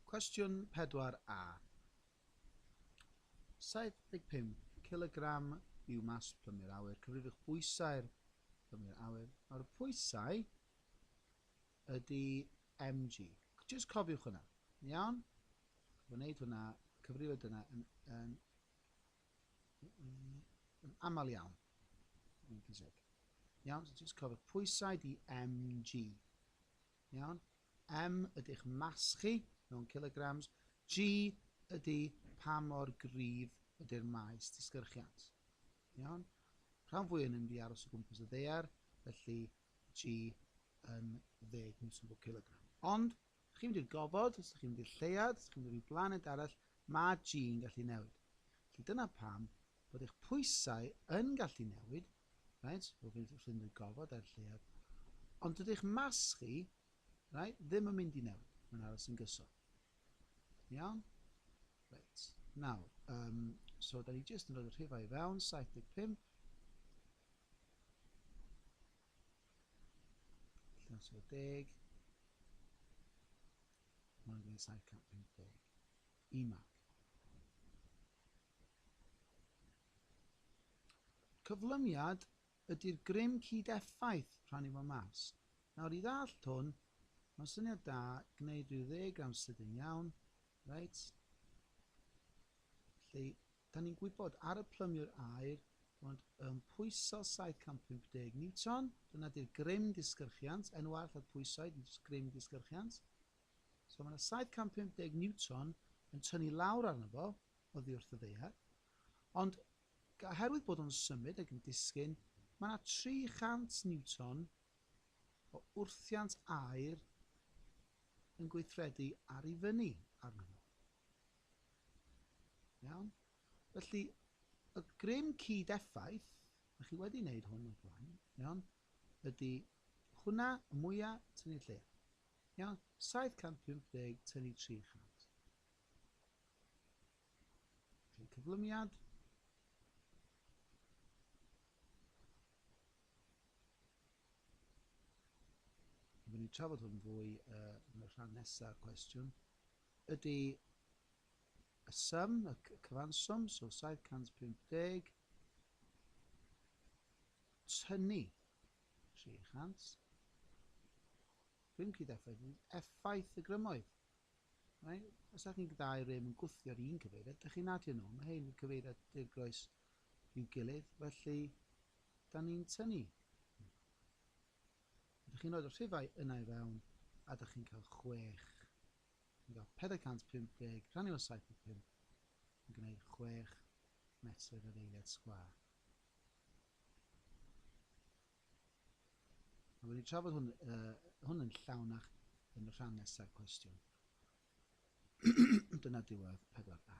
Cwestiwn 4A. 75 cilogram yw mas plymu'r awyr. Cyfrifwch bwysau'r plymu'r awyr. Nawr, pwysau ydy mg. Just cofiwch hwnna. Iawn? Mae'n gwneud hwnna, cyfrifo dyna yn, yn, yn aml iawn. Iawn, so just cofiwch pwysau di mg. Iawn. M, ydych mass chi, mewn kilograms. G, ydy pa mor gryf ydy'r maes disgyrchiant. Iawn. Rhan fwy yn mynd i aros o gwmpas y ddear, felly G yn 10 newton bob kilogram. Ond, ydych chi'n mynd i'r gofod, ydych chi'n mynd i'r lleuad, ydych chi'n mynd i'r blaned arall, mae G yn gallu newid. Felly dyna pam bod eich pwysau yn gallu newid, reit, o fynd rhy nhŷ gofod er lleuad, ond dydy'ch mas chi, reit, ddim yn mynd i newid, mae'n aros yn gyson. Iawn? Reit, nawr, um, so da ni jyst yn rhoi y rhifau i fewn, 75, Llan sy'n deg, mae'n gwneud 750 i mag. Cyflymiad ydy'r grym cyd-effaith rhannu fo mas. Nawr i ddallt hwn, mae'n syniad da gwneud rhyw ddeagram sydyn iawn, reit? Felly, da ni'n gwybod ar y plymiwr aer bod yn pwyso 750 niwton, dyna di'r grym disgyrchiant, enw arall ar pwysau, dim jyst grym disgyrchiant. So mae yna 750 niwton yn tynnu lawr arno fo, oddi wrth y ddaear, Ond, oherwydd bod o'n symud ac yn disgyn, mae 'na 300 niwton o wrthiant aer yn gweithredu ar i fyny arnyn nhw. Iawn? Felly, y grym cyd-effaith, a chi wedi wneud hwn o'r blaen, iawn, ydy hwnna y mwyaf tynnu lle. Iawn? 750 tynnu 300. Ein cyflymiad Byddwn ni'n trafod hwn fwy uh, yn y rhan nesaf cwestiwn. Ydy y sum, y cyfanswm, so 750, tynnu 300, rhywun cyd effaith, effaith y grymoedd. Rhain, os dach chi'n gadael rym yn gwthio'r un cyfeiriad, dach chi'n adio nhw, mae hein yn cyfeiriad dirgroes i'w gilydd, felly da ni'n tynnu. Ydych chi'n rhoi'r rhifau yna i fewn, a dych chi'n cael 6. Yn cael 450 rhannu o 75 yn gwneud 6 metr yr eiliad sgwâr. A wnawn ni trafod hwn, uh, hwn yn llawnach yn y rhan nesaf cwestiwn. Dyna diwedd 4A.